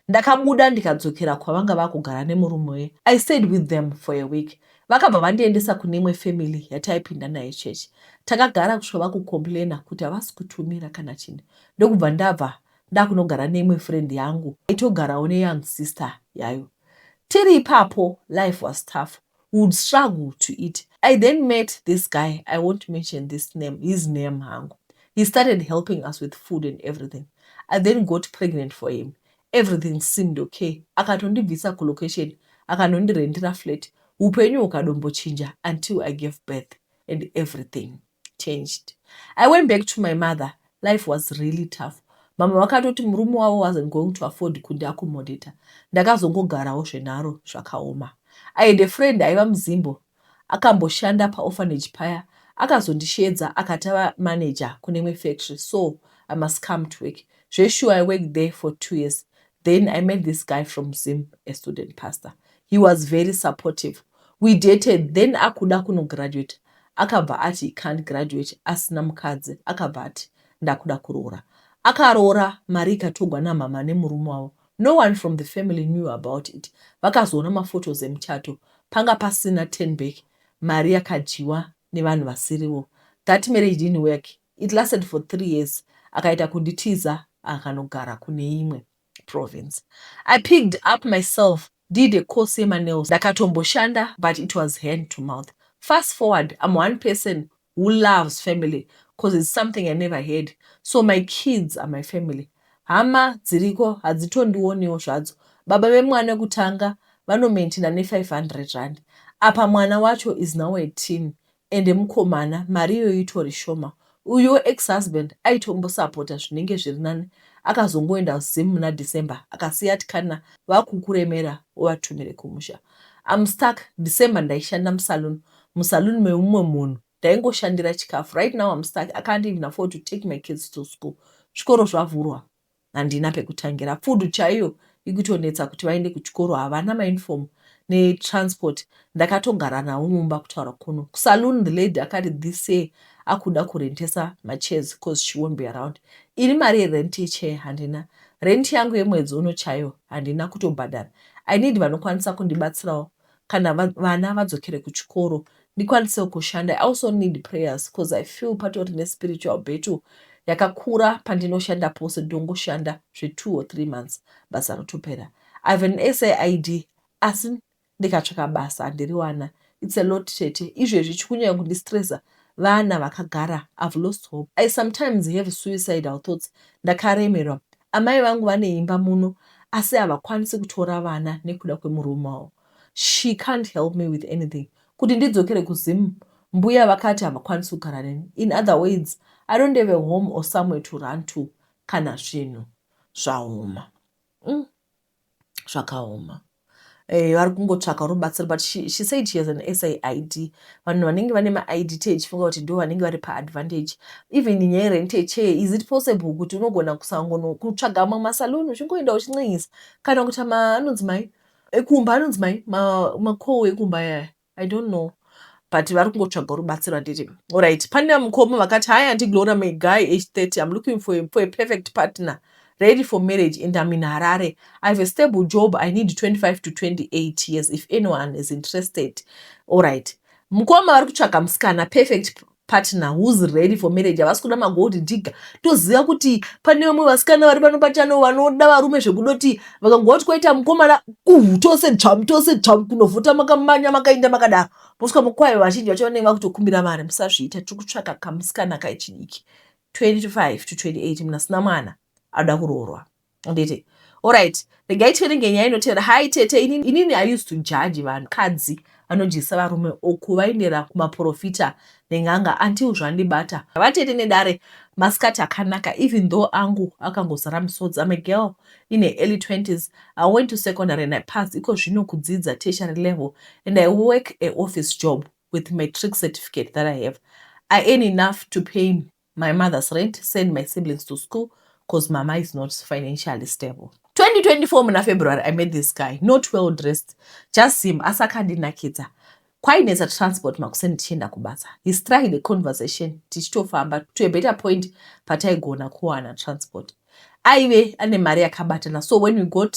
ndakabuda ndikadzokera kwavanga vakugara nemurume weye i stayed with them for a week vakabva vandiendesa kune imwe family yataipinda naye chechi takagara kusvika vakucomplaina kuti havasi kutumira kana chini ndokubva ndabva ndakunogara neimwe friend yangu yaitogarawo neyoung sister yayo tiri ipapo life was tough we would struggle to eat i then met this guy i won't mention this name his name hangu he started helping us with food and everything i then got pregnant for him everything seemed okay akatondibvisa kulocation akanondirendera flat upenyu hukadombochinja until i gave birth and everything changed i went back to my mother life was really tough mama vakatoti murume wavo wasn't going to afford kundi accommodata ndakazongogarawo zvenharo zvakaoma i had a friend aiva muzimbo akamboshanda paorphanage paya akazondisheedza akati ava manager kunemwe factory so i must come to work zveshuwa i worked there for two years then i met this guy from zim a student pastor he was very supportive we dated then akuda kunograduate akabva ati he can't graduate asina mukadzi akabva ati ndakuda kuroora akaroora mari ikatogwa namama nemurume wavo no one from the family knew about it vakazoona maphotos emuchato panga pasina ten back mari yakadyiwa nevanhu vasirivo that marriage didn't work It lasted for three years akaita kunditiza akanogara kune imwe province. I picked up myself did a course yemaNails ndakatomboshanda but it was hand to mouth. Fast forward I'm one person who loves family cause it's something I never had so my kids are my family. Hama dziriko hadzitondioniwo zvadzo. Baba vemwana wekutanga vanomaintaina ne 500 rand apa mwana wacho is now a teen Ende mukomana mari iyoyo itori shoma. Uyuwo ex husband aitombosapota zvinenge zviri nani akazongoenda kuzim muna December akasiya ati kana vakukuremera uvatumire kumusha. I'm stuck, December ndaishanda musaloon, musaloon memumwe munhu ndaingoshandira chikafu. Right now I'm stuck, I can't even afford to take my kids to school. Zvikoro zvavhurwa. handina pekutangira food chaiyo ikutonetsa kuti vaende kuchikoro havana mauniform netransport ndakatogara navo mumba kutaura kuno kusaloon the lady akati this year akuda kurentesa machairs cause she won't be around iri mari yerent yechair handina rent yangu yemwedzi uno chaiyo handina kutobhadhara i need vanokwanisa kundibatsirawo kana vana vadzokere kuchikoro ndikwanisewo kushanda i also need prayers because i feel patori nespiritual battle yakakura pandinoshanda pose dongoshanda zvetwo or three months basa rotopera i have an said asi ndikatsvaka basa handiriwana its a lot tete izvezvi chikunyanya kundistresa vana vakagara I've lost hope I sometimes have suicidal thoughts ndakaremerwa amai vangu vane imba muno asi havakwanisi kutora vana nekuda kwemurume wavo she can't help me with anything kuti ndidzokere kuZim mbuya vakati havakwanisi kugara neni in other words I don't have a home or somewhere to run to kana zvinhu zvaoma mm. zvakaoma eh, vari kungotsvaka rubatsiro but she, she said she has an said vanhu vanenge vane maid tee chifunga kuti ndo vanenge vari paadvantage even nyaya rente chee is it possible kuti unogona kusangono kutsvaga mamwe masaloon uchingoenda uchincenyisa kana kuita maanonzi mai ekumba anonzi mai makowo ekumba yaya I don't know but vari kungotsvaga rubatsiro handiti orit pane mukoma vakati hai anti glora my guy age 30 im looking for a, for a perfect partner ready for marriage and im in harare i have a stable job i need 25 to 28 years if anyone is interested orit mukoma vari kutsvaga musikana perfect partner who's ready for marriage havasi kuda magold digger toziva kuti pane vamwe vasikana vari pano pachano vanoda varume zvekudoti vakangova kuti kwaita mukomana uhu tose dzvamu tose dzvamu kunovhota makamanya makainda makadaro mosvika mukwayo vazhinji vacho vanenge vakutokumbira mari musazviita tiri kutsvaka kamusikana kaichidiki 25 to 28 munasina mwana anoda kuroorwa nditi orit regai tiverenge nyaya inotevera hai tete ini, inini i used to judge vanhu kadzi vanodyisa varume or kuvaendera kumaprofita nen'anga until zvandibata vatete nedare masikati akanaka even though angu akangozara misodzi am a girl in her early 20s i went to secondary and i passed iko zvino kudzidza tertiary level and i work a office job with matric certificate that i have i earn enough to pay my mother's rent send my siblings to school cause mama is not financially stable 2024 muna february i met this guy not well dressed just him asi akandinakidza kwainetsa transport makuseni tichienda kubasa he strike the conversation tichitofamba to a better point pataigona kuwana transport aive ane mari yakabatana so when we got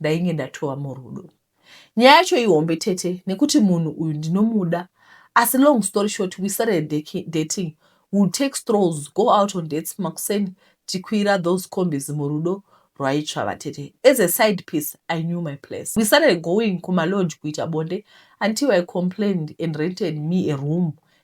ndainge ndatova murudo. Nyaya yacho ihombe tete nekuti munhu uyu ndinomuda asi long story short we started dating will take strolls go out on dates makuseni tikwira those combis murudo rwaitsva vatete as a side piece i knew my place we started going kumalodge kuita bonde until i complained and rented me a room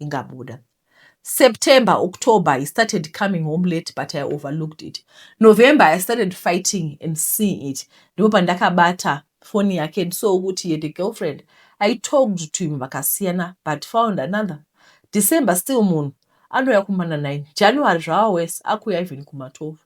ingabuda. September, October he started coming home late but I overlooked it. November I started fighting and seeing it. Ndipo pandakabata phone yake and saw kuti he had a girlfriend. I talked to him vakasiyana but found another. December still munhu anouya kumana 9. January zvava worse akuuya even kuma 12.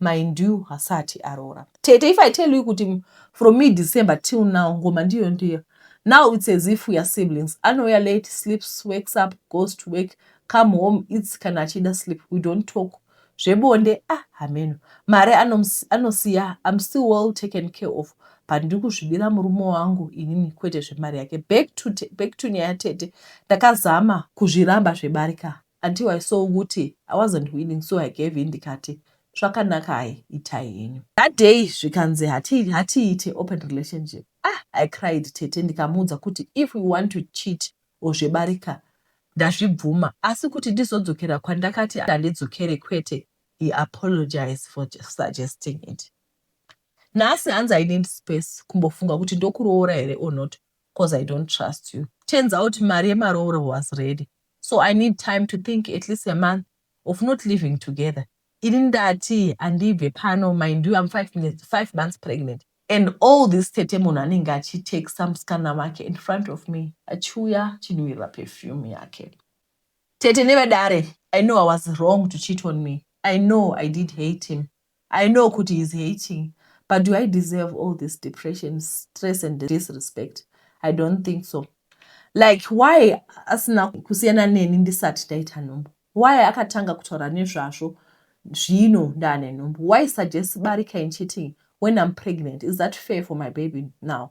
mind you hasati aroora. Tete if I tell you kuti from mid December till now ngoma ndiyo ndiyo now it's as if we are siblings anouya late sleeps wakes up goes to work come home it's kana achida sleep we don't talk zvebonde ah hameno mari anosiya I'm still well taken care of but ndiri kuzvidira murume wangu inini kwete zvemari yake back to, back to nyaya tete ndakazama kuzviramba zvebarika Until I saw kuti I wasn't winning so I gave in ndikati zvakanaka hayi itai henyu. That day zvikanzi hatiite open relationship ah I cried tete ndikamuudza kuti if we want to cheat or zvebarika ndazvibvuma asi kuti ndizodzokera kwandakati handidzokere kwete he apologized for suggesting it. Nhasi hanzi I need space kumbofunga kuti ndokuroora here or not coz I don't trust you. Turns out mari yemarooro was ready so I need time to think at least a month of not living together. Ini ndati handibve pano mind you I'm five, minutes, five months pregnant and all this tete munhu anenge achitexta musikana wake in front of me achiuya chinhuwirira perfume yake tete nevadare i know i was wrong to cheat on me i know i did hate him I know kuti he's hating but do I deserve all this depression, stress and disrespect? I don't think so. Like why asina kusiyana neni ndisati ndaita nhumbu? Why akatanga kutaura nezvazvo zvino ndaane nhumbu? Why suggest barika in cheating when I'm pregnant? Is that fair for my baby now?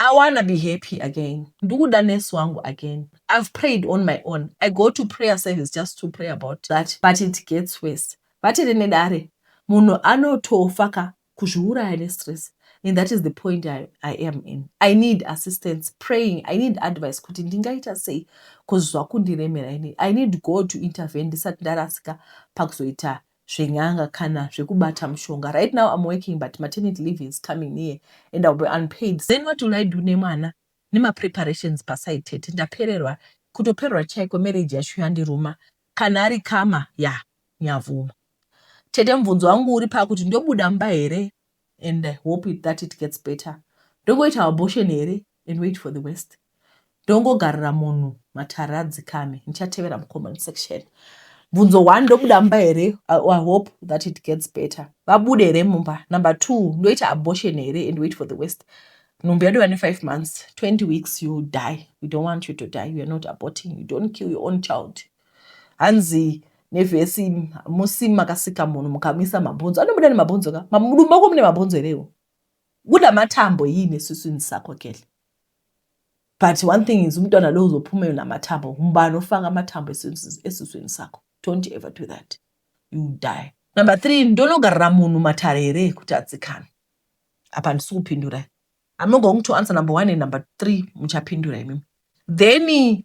I wanna be happy again ndikuda nurse wangu again I've prayed on my own I go to prayer service just to pray about that but it gets worse vati rine dare munhu anotofa ka kuzviuraya nestress and that is the point I, I am in I need assistance praying I need advice kuti ndingaita sei cause zvakundiremera ini I need God to intervene ndisati ndarasika pakuzoita zven'anga kana zvekubata mushonga right now I'm working but maternity leave is coming near and I'll be unpaid then what will I do nemwana nemapreparations paside tete ndapererwa kutopererwa chaiko marriage yacho yandiruma kana ari kama ya nyavuma tete mubvunzo wangu uri pakuti ndobuda mumba here and I hope it, that it gets better ndongoita abortion here and wait for the worst ndongogarira munhu matare adzikame ndichatevera mucomment section bvunzo one ndobuda mumba here i hope that it gets better vabude here mumba number two ndoita abortion here and wait for the worst nhumbu yadu vane five months 20 weeks you die we don't want you to die you are not aborting you don't kill your own child hanzi nevhesi musi makasika munhu mukamisa mabhonzo anobuda nemabhonzo ka mudumba uko mune mabhonzo here iwo Kubuda matambo yii nesuswini sako kele. But one thing is umntwana lo uzophuma namathambo ngubani ofaka amathambo esuswini sakho don't ever do that you will die number three ndonogarira munhu matare here kuti adzikame apa handisi kupindura i'm not going to answer number one and number three muchapindura imimi then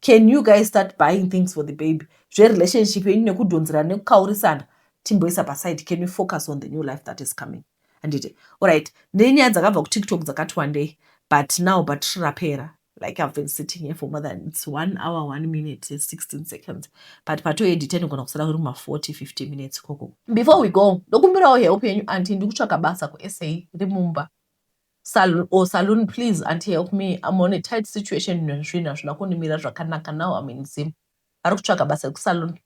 can you guys start buying things for the baby zverelationship yenyu nekudhonzerana nekukaurisana timboisa paside can you focus on the new life that is coming handiti orit nenyaya dzakabva kutiktok dzakati wandei but now but rapera like i've been sitting here for more than its one hour one minute 16 seconds but patoedita nogona kusara kuri ma 40 50 minutes ikoko before we go ndokumbirawo help yenyu anti ndikutsvaka basa kusa rimumba Salon or salon please auntie help me I'm on a tight situation zvinhu hazvina kundimira zvakanaka now I'm in Zim ari kutsvaga basa rekusalon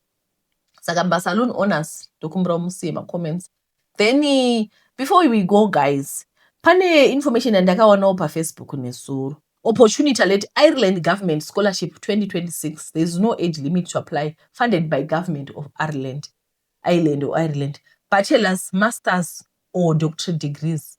saka masalon owners ndokumbira musiye macomments then eh, before we go guys pane information yandakawanawo pafacebook nesuro opportunity let ireland government scholarship 2026 there's no age limit to apply funded by government of ireland ireland or ireland bachelors masters or doctorate degrees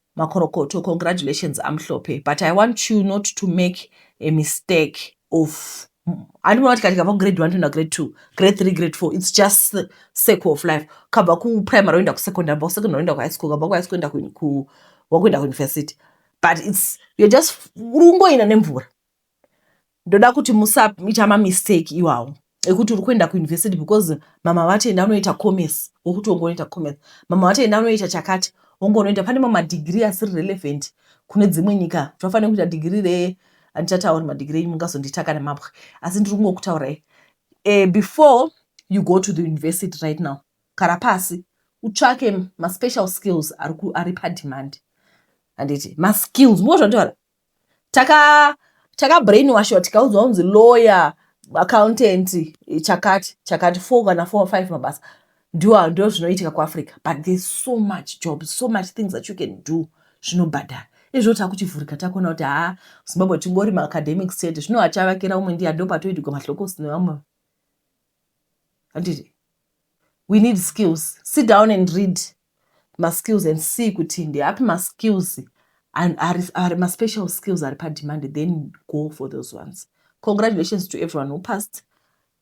Makorokoto congratulations Amhlope but I want you not to make a mistake of handimona kuti katikabva kugrade one toenda grade two grade three grade four its just circle of life kabva kuprimary woenda kusecondary bva kusecondary woenda kuhigh school kabva kuhigh school enda wakuenda kuuniversity but its you're just uri kungoenda nemvura ndoda kuti musaita mamistake iwawo ekuti uri kuenda kuuniversity because mama vati enda unoita commerce wokuti wonge unoita commerce mama vati enda unoita chakati wonge unoita pane mamwe madigiri asiri relevant kune dzimwe nyika tinofanira kuita digiri re andichatauri madigiri enyu mungazonditaka nemabwe asi ndiri kungokutaurai e, before you go to the university right now kara pasi utsvake maspecial skills ari, ari pademand handiti maskills muozvandiwara taka taka brainwashwa tikaudzwa kunzi lawyer accountant chakati chakati four kana four five mabasa ndiwo ndo zvinoitika kuafrica but there's so much jobs so much things that you can do zvinobhadhara izvo takuchivhurika takuona kuti haa zimbabwe tingori maacademics chete zvino achavakira umwe ndiya ndopatoidigwa mahlokos nevamwe handiti we need skills sit down and read maskills and see kuti ndeapi maskills ari maspecial skills ari pademand then go for those ones congratulations to everyone who passed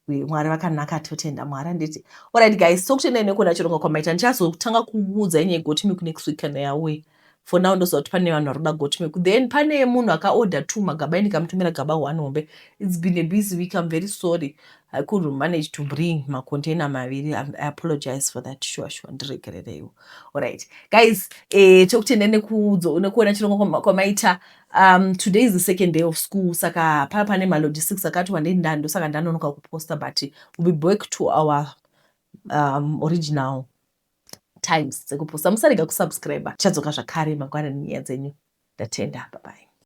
mwari vakanaka totenda mwari anditi orit guys so kutendai nekuona chirongo kwamaita ndichazotanga kuudza inyaya igotimi kunext week kana yauye for now ndoziva kuti pane vanhu vari kuda got milk then pane munhu akaorder two magaba indikamutumira gaba one hombe its been a busy week im very sorry i could manage to bring macontainer maviri i apologize for that sure sure ndiregerereiwo allright guys eh, tokutenda nekuona chirongwa kwamaita um, today is the second day of school saka paa pane malogistics akati wandei ndando saka ndanonoka kuposta but we'll be back to our um, original times dzekuposta musarega kusubscriber tichadzoka zvakare mangwana nenyaya dzenyu ndatenda babai